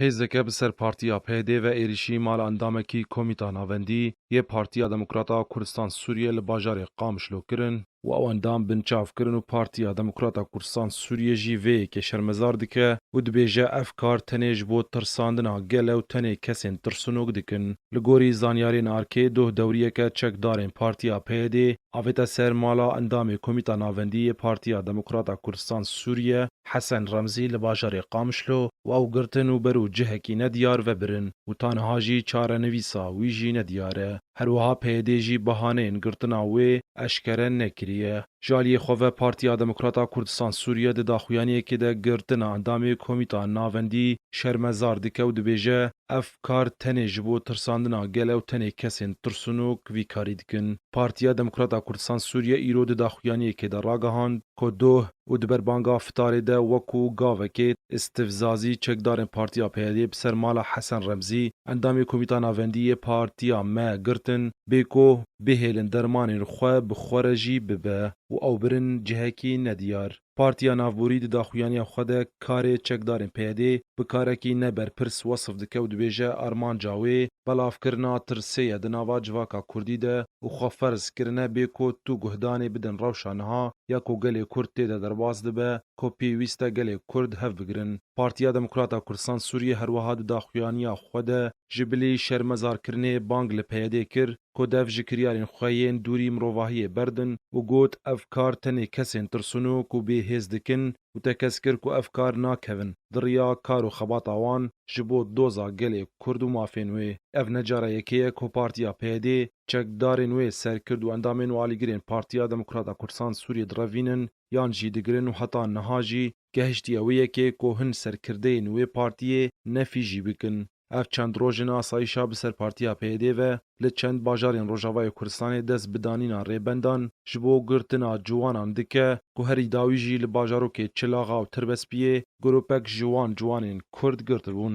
Hêzeke bi ser Partiya PYD ve êrîşî mala endamekî Komîta Navendî yê Partiya Demokrata a Kurdistan Sûriyê li bajarê Qamişlo kirin û ew endam binçav kirin û Partiya Demokrata Kurdistan Sûriyê jî vê yekê şermezar dike û dibêje ev kar tenê ji bo tirsandina gel e û tenê kesên tirsinok dikin. Li gorî zanyarên ARK'ê doh dewriyeke çekdarên Partiya PYD'ê avête ser mala endamê Komîta Navendî yê Partiya Demokrata Kurdistan Sûriyê Hesen Remzî li bajarê Qamişlo waw girtin û ber û cihekî nediyar vebirin û ta niha jî çarenivîsa wî jî nediyar e. Her wiha PYD jî bihaneyên girtina wê eşkere nekiriye. Ji aliyê xwe ve Partiya Demokrata Kurdistan Sûriye di daxuyaniyekê de girtina endamê Komîta Navendî şermezar dike û dibêje, Ev kar tenê ji bo tirsandina gel e û tenê kesên tirsinok vî karî dikin. Partiya Demokrata Kurdistan Sûriye îro di daxuyaniyekê de ragihand ku doh, û di ber banga fitarê de wekû gavekê îstifzazî çekdarên Partiya PYD'ê bi ser mala Hesen Remzî, endamê Komîta Navendî yê Partiya me girtin, bêkoh bihêlin dermanên xwe bi xwe re jî bibe û ew birin cihekî nediyar. Partiya Navborî di daxuyaniya xwe de karê çekdarên PYD'ê bi karekî ne berpirs wesif dike û dibêje armanca wê, Belavkirina tirsê ye di nava civaka kurdî de û xwe ferz kirine bê ku tu guhdanê bidin rewşa niha ya ku gelê kurd tê de derbas dibe ku pêwîst e gelê kurd hev bigirin. Partiya Demokrata Kurdistan Sûriyê her wiha di daxuyaniya xwe de ji bilî şermezarkirinê bang li PYD'ê kir ku dev ji kiryarên xwe yên dûrî mirovahiyê berdin û got, Ev kar tenê kesên tirsûn û ku bêhêz dikin, û te kes kir ku ev kar nakevin di riya kar û xebata wan ji bo doza gelê Kurd û mafên wê. Ev ne cara yekê ye ku Partiya PYD çekdarên wê, serkird û endamên û alîgirên Partiya Demokrata Kurdisan Sûriyê direvînin yan jî digirin û heta niha jî gehiştiye wê yekê ku hin serkirdeyên wê partiyê nefî jî bikin. Ev çend roj in asayîşa bi ser partiya PYD'ê ve li çend bajarên Rojavayê Kurdistanê dest bi danîna rêbendan ji bo girtina ciwanan dike ku herî dawî jî li bajarokê Çilaxa û Tirbespiyê grûpek ji wan ciwanên Kurd girtibûn.